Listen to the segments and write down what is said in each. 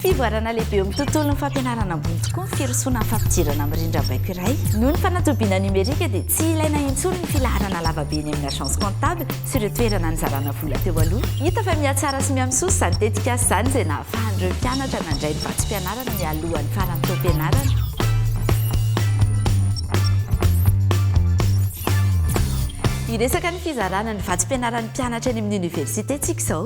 Fivoarana lehibe eo amin'ny tontolon'ny fampianarana ambony tokoa ny firosoana amin'ny fampidirana amin'ny rindrambaiko iray. Noho ny fanatobiana nomerika dia tsy ilaina intsony ny filaharana lavabe eny amin'ny agence comptable sy ireo toerana nizarana vola teo aloha. Hita fa mihatsara sy mihamisosa izany tetikasa izany izay nahafahan'ireo mpianatra nandray ny vatsim-pianarana mialohan'ny faran'ny taom-pianarana. Hiresaka ny fizarana ny vatsim-pianaran'ny mpianatra eny amin'ny oniversite isika izao.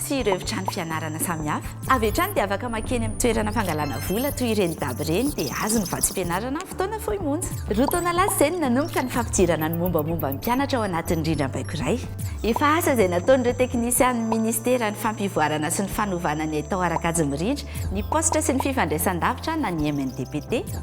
sy ireo efitrano fianarana samihafa. Avy hatrany dia afaka makeny amin'ny toerana fangalana vola toy ireny dab ireny dia azo ny vatsim-pianarana amin'ny fotoana fohy monja. Roa taona lasa izay no nanomboka ny fampidirana ny mombamomba ny mpianatra ao anatin'ny rindrambaiko iray. Efa asa izay nataon'ireo teknisianin'ny minisitera ny fampivoarana sy ny fanovana ny haitao ara-kajy mirindra ny paositra sy ny fifandraisan-davitra na ny MNDPT.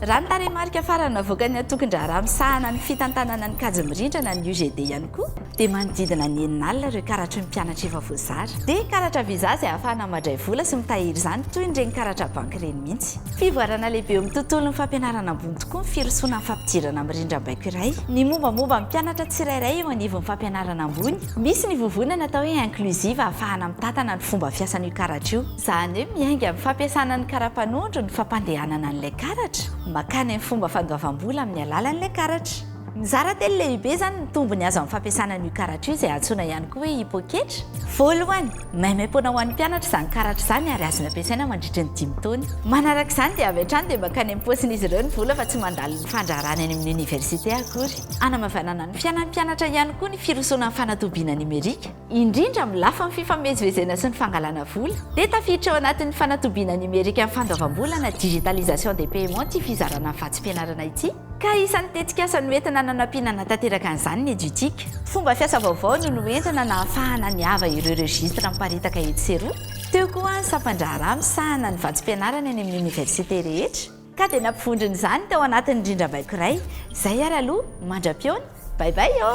Raha ny tarehimarika farany navoakan'ny Antokon-draharaha misahana ny fitantanana ny kajy mirindrana ny UGD ihany koa dia manodidina ny enina alina ireo karatry ny mpianatra efa voazara. Dia karatra visa izay ahafahana madray vola sy mitahiry izany toy ireny karatra banky ireny mihitsy. Fivoarana lehibe eo amin'ny tontolon'ny fampianarana ambony tokoa ny firosoana amin'ny fampidirana amin'ny rindrambaiko iray ny mombamomba ny mpianatra tsirairay eo anivon'ny fampianarana ambony. Misy ny vovonana atao hoe inclusive ahafahana mitantana ny fomba fiasan'io karatra io. Izany hoe miainga amin'ny fampiasana ny karapanondro ny fampandehanana an'ilay karatra makany amin'ny fomba fandoavam-bola amin'ny alalan'ilay karatra. Mizara telo lehibe izany ny tombony azo amin'ny fampiasana an'io karatra io izay antsoina ihany koa hoe poketra. Voalohany, maimaim-poana ho an'ny mpianatra izany karatra izany ary azony ampiasaina mandritry ny dimy taona. Manaraka izany dia avy hatrany dia mankany amin'ny paosin'izy ireo ny vola fa tsy mandalo ny fandraharany any amin'ny oniversite akory. Hanamavanana ny fiainan'ny mpianatra ihany koa ny firosoana amin'ny fanatobiana nomerika. indrindra amin'ny lafin'ny fifamezivezena sy ny fangalana vola, dia tafiditra ao anatin'ny fanatobiana nimerika ny fandoavam-bola na digitalisation des paiements ity fizarana ny vatsim-pianarana ity, ka isan'ny tetikasa noentina nanampiana hanatanteraka an'izany ny Edutic. Fomba fiasa vaovao no noentina nahafahana niava ireo registres miparitaka etsy sy eroa, teo koa ny sampan-draharaha misahana ny vatsim-pianarana eny amin'ny oniversite rehetra, Ka dia nampivondrona izany tao anatin'ny rindrambaiko iray. Izay ary aloha, mandra-pihaona, bye bye ô!